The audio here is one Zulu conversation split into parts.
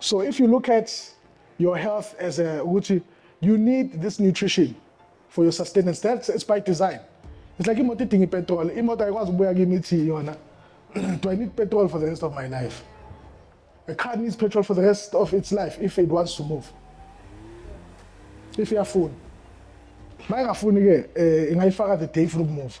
So if you look at your health as a ukuthi you need this nutrition for your sustenance that's it's by design it's like imoto idinga ipetrol imoto ayikwazi ukubuya kimi ithi yona do i need petrol for the rest of my life a car needs petrol for the rest of its life if it wants to move if iyafuna uma ingafuni ke eh, ingayifaka the day ifuna ukumuva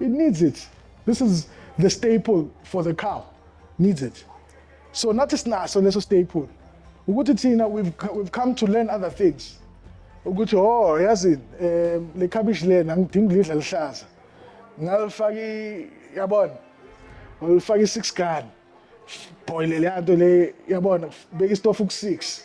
it needs it this is the staple for the cow needs it so nathi sinaso leso staple ukuthi thina we've, we've come to learn other things ukuthi oh yazini um le kabishi lena ngidinga ulidla lihlaza ngalifaka yabona ngilifaka i-six gun boile le nto le yabona beka istofu ku-six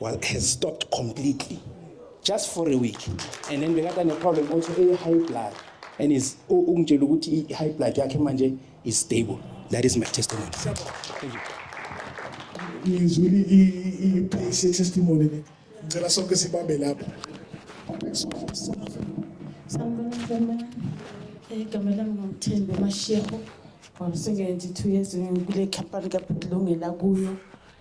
was, has stopped completely just for a week and then bekade ne-problem also e-high blood and is ungitshela ukuthi i-high blood yakhe manje is stable that is my testimony Thank you. ngizwile i-base ye-testimony le ngicela sonke sibambe lapho sanibonazama igama lami ngomthembi amasheho wasebenzi two years kule khampani kabhulungela kuyo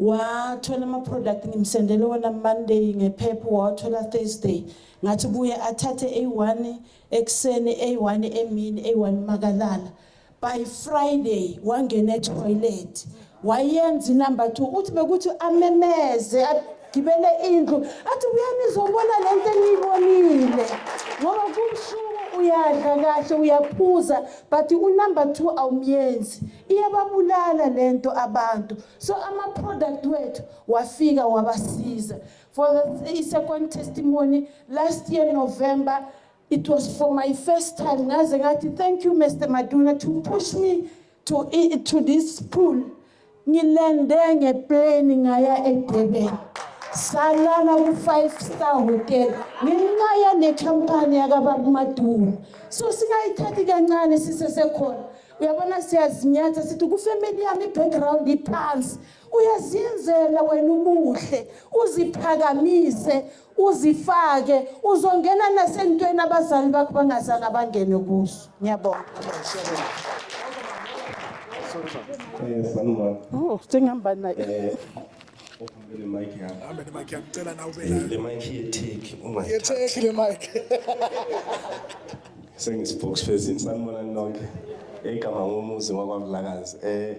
wathola ama product ngimsendele wona Monday ngephepha wathola Thursday ngathi buye athathe A1 ekseni A1 emini A1 makalala by Friday wangena etoilet wayenza inumber 2 uthi bekuthi amemeze agibele indlu athi uyanizobona lento engiyibonile ngoba kumshuku uyadla kahle uyaphuza but unumber 2 awumyenzi iyababulala lento abantu So ama-product wethu wafika wabasiza. For the i-second testimony, last year November, it was for my first time ngaze ngathi thank you Mr. Maduna to push me to, i- to this pool. Ngilande ngeplane ngaya eDurban. Salala ku-five star hotel ngenxa yale company yakababa uMaduna. So singayithathi kancane sisesekhona. uyabona siyazinyatha sithi kufemeli yami i-background iphansi uyaziyenzela wena ubuhle uziphakamise uzifake uzongena nasentweni abazali bakho bangazange abangene kuso ngiyabonga eh, oh, sengihamba naye eh, Uhambe le mic yakho. Hambe le mic yakucela nawe ube nayo. Le mic yetheki uma Ye take le mic. sengisibhox phezini sanibona nonke igama ngomuzi wakwamlakazi eh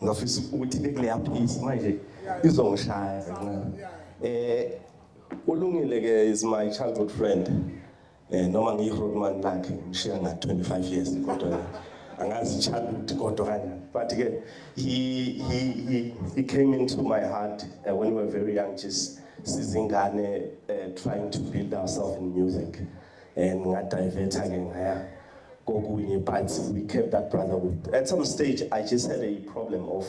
ngafisa ukuthi bekuleya piece manje izongishaya kancane eh ulungile ke is my childhood friend Eh noma ngiyihotman lakhe ngishiya nga 25 years kodwa angazi childhood kodwa kanje but ke he he he, he came into my heart uh, when we were very young just sizingane uh, trying to build ourselves in music and ngadiverta ke ngaya kokunye but we kept that brother with at some stage i just had a problem of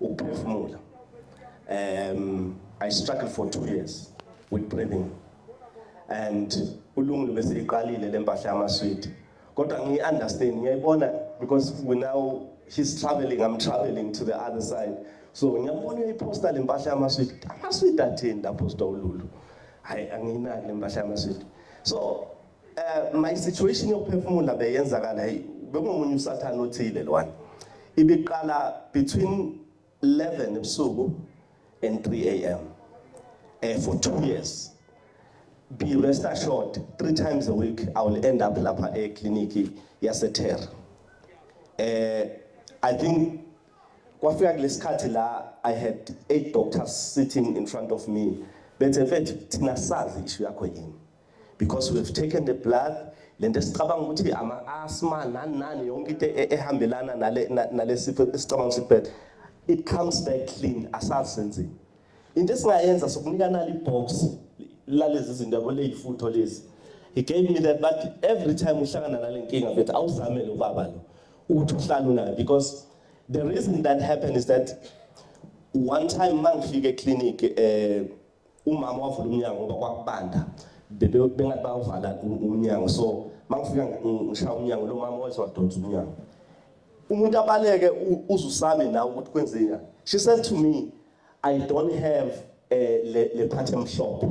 ukuphefumula um i struggled for 2 years with breathing and ulungile bese iqalile lempahla yamaswidi kodwa ngiyi understand ngiyayibona because we now he's traveling i'm traveling to the other side so ngiyabona uyiposta le mpahla yamaswidi amaswidi athini lapho sitawululu hayi anginaki le mpahla yamaswidi so uh, my situation yokuphefumula beyenzakala bekungomunye usathane othile lwana ibiqala between 11 ebusuku and 3 am eh, for two years be rest assured three times a week i will end up lapha ekliniki yasetera eh i think kwafika kulesikhathi la i had eight doctors sitting in front of me bethe mfethu thina sazi ishu yakho yini because we have taken the blood lento esicabanga ukuthi ama asthma nani nani yonke into e-, ehambelana nale nalesifo esicabanga ukuthi it comes back clean asazenzi into esingayenza sokunika nali box lalezi zinto yabo leyifutho lezi he gave me that but every time uhlangana nale nkinga mfethu awuzame lo baba lo ukuthi uhlala unayo because the reason that happened is that one time mangifike eclinic eh Umama wavula umnyango ngoba kwakubanda bebe bengathi bawuvala umnyango so mangifika ngishaya umnyango lo mama wayese wadonsa umnyango umuntu abaleke uzusame nawe ukuthi kwenzeka she said to me i don't have eh, le le phathe mhlophe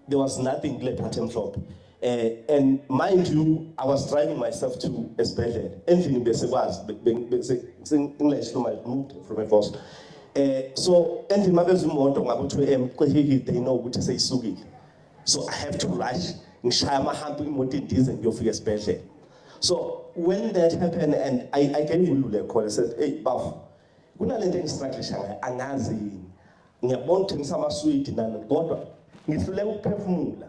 there was nothing kule phathe mhlophe Eh, and mind you, I was driving myself to esibhedlela endlini bese kwazi ngilesho my moved from a boss eh so endlini mabezwe imoto ngabe uthiwe em qehile they know ukuthi seyisukile so i have to rush ngishaya amahambo imoto indize ngiyofika esibhedlela so when that happened and i i gave ulule call i said hey bafo kunalento engistruggle ngayo angazi yini Ngiyabona uthengisa amaswidi nani kodwa ngihluleka ukuphefumula.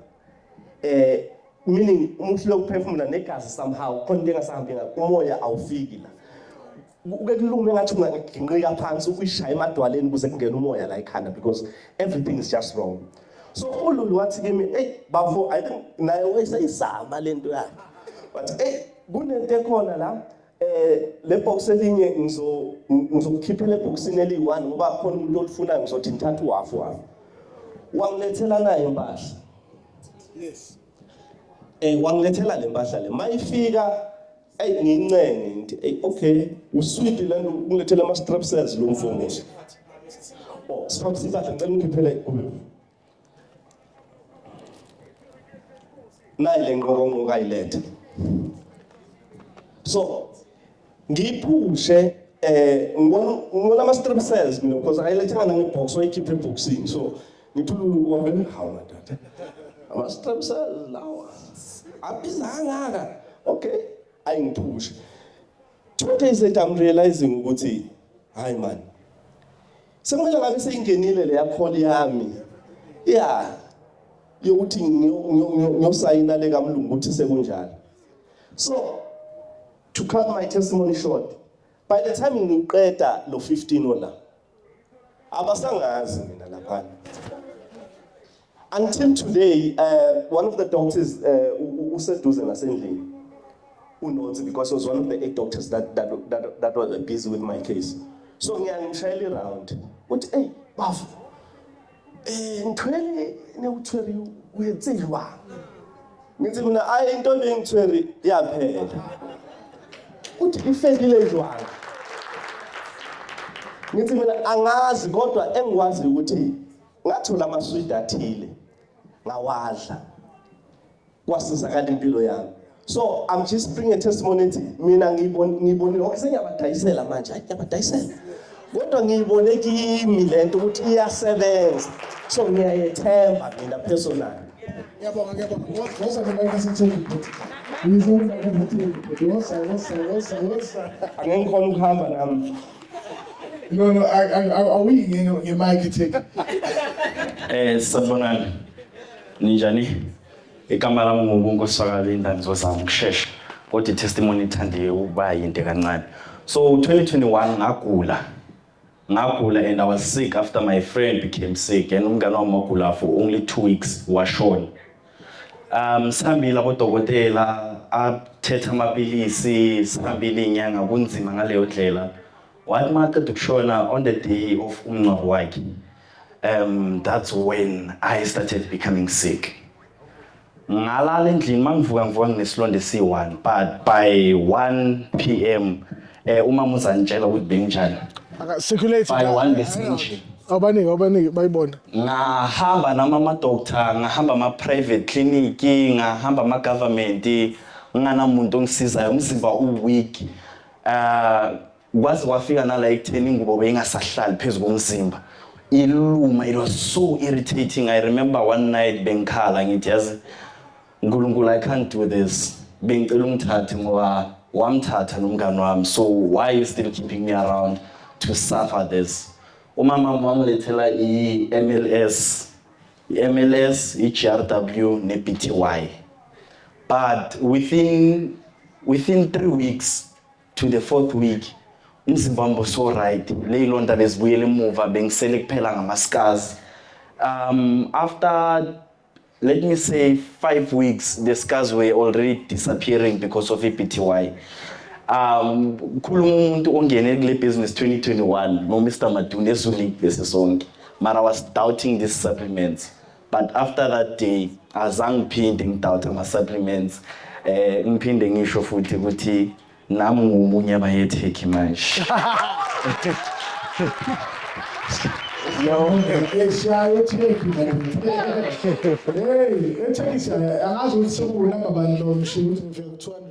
Eh meaning uma uhluleka ukuphefumula negazi somehow khona into engasahambi ngakho umoya awufiki la. Uke kulume ngathi ungaginqika phansi ukuyishaya emadwaleni kuze kungene umoya la ekhanda because everything is just wrong. So uLulu wathi kimi, "Ey bafo, I think naye wayesayizama lento yakhe." Wathi, "Ey kunento ekhona la." Eh le box elinye ngizo ngizokukhiphela ebhoksini eliyi-1 ngoba khona umuntu olifunayo ngizothi ngithatha uhafu wami. Wangilethela naye impahla. Yes. Eh wangilethela le mpahla le. Mayifika ayi ngincenge ngithi ayi okay usweet lento ungilethela ama strepsels lo mfowethu. Oh, siphaphisa impahla ngicela ungikhiphele kuyo. nayi le nqokonqoka ayilethe so ngiyiphushe eh ngibona ngibona ama strip cells mina because ayilethanga nami box wayikhipha eboxini so ngithi wabele hawu madoda ama strip cells lawa abizangaka okay ayingiphushe two days later i'm realizing ukuthi hayi manje Sekumele ngabe seyingenile leya call yami. Yeah. Yokuthi ngiyosayina le kamlungu ukuthi sekunjalo. So to cut my testimony short, by the time ngiqeda lo 15 ola abasangazi mina lapha. Until today, uh, one of the doctors uh, useduze nasendlini unothi because he was one of the eight doctors that, that, that, that were busy with my case so ngiyangishayela iround uthi eyi bafo eh ngithwele newuthweri uyenziwa ngithi mina ayi into lengithweri yaphela uthi ifelile njwanga ngithi mina angazi kodwa engikwazi ukuthi ngathola amaswidi athile ngawadla kwasizakala impilo yami so i'm just bringing a testimony ethi mina ngiyibonile okay sengiyabadayisela manje hayi ngiyabadayisela kodwa ngiyibone kimi lento ukuthi iyasebenza so ngiyayethemba mina personally ngiyabonga ngiyabonga ngoza mina ngisithembi futhi ngizonda ukuthi ngoza ngoza ngoza ngoza angengikhona ukuhamba nami No, no, I, I, I, are we in your mic take? Eh, sabonani. Ninjani? Igama lami nguNkosi wakaLinda ngizozama ukushesha. Kodwa itestimony ithande ukuba yinde kancane. So 2021 ngagula. Ngagula and I was sick after my friend became sick and umngane wami wagula for only 2 weeks washona. Um sihambile abodokotela athethe amapilisi sihambile iy'nyanga kunzima ngaleyo ndlela wathi uma aqeda ukushona on the day of umngcwabo wakhe um that's when i started becoming sick ngalala endlini uma ngivuka ngivuka nginesilonda esiyi-one but by one p m Eh uma muzanitshela ukuthi benginjani. Aka circulate. By one besinje. Abaningi abaningi bayibona. Ngahamba nama ama doctor, ngahamba ama private clinic, ngahamba ama government, nganamuntu ongisizayo, umzimba u weak. Ah kwaze kwafika nala ekutheni ingubo beyingasahlali phezu komzimba. Iluma, it was so irritating. I remember one night bengikhala ngithi yazi Nkulunkulu I can't do this. Bengicela umthathe ngoba wamthatha nomngane wami. So why are you still keeping me around to suffer this? Umama wami wangilethela i-MLS. I-MLS, i-GRW ne-BTY. But within within 3 weeks to the fourth week umzimba wami so right leyilonda bezibuyela emuva bengisele kuphela ngama-scars um after let me say five weeks the scars were already disappearing because of i-bty um khuluma umuntu ongene kule business 2021 nomr maduna ezulile bese sonke mara was doubting these supplements but after that day azange ngiphinde ngidoubt ama-supplements um ngiphinde ngisho futhi ukuthi Nami ngiwomunye abayethekhi manje. Eshaye ethekhi manje. Hey, ethekhi angazi ukuthi sekunamba bani lo mshini ukuthi ngifika ku-200.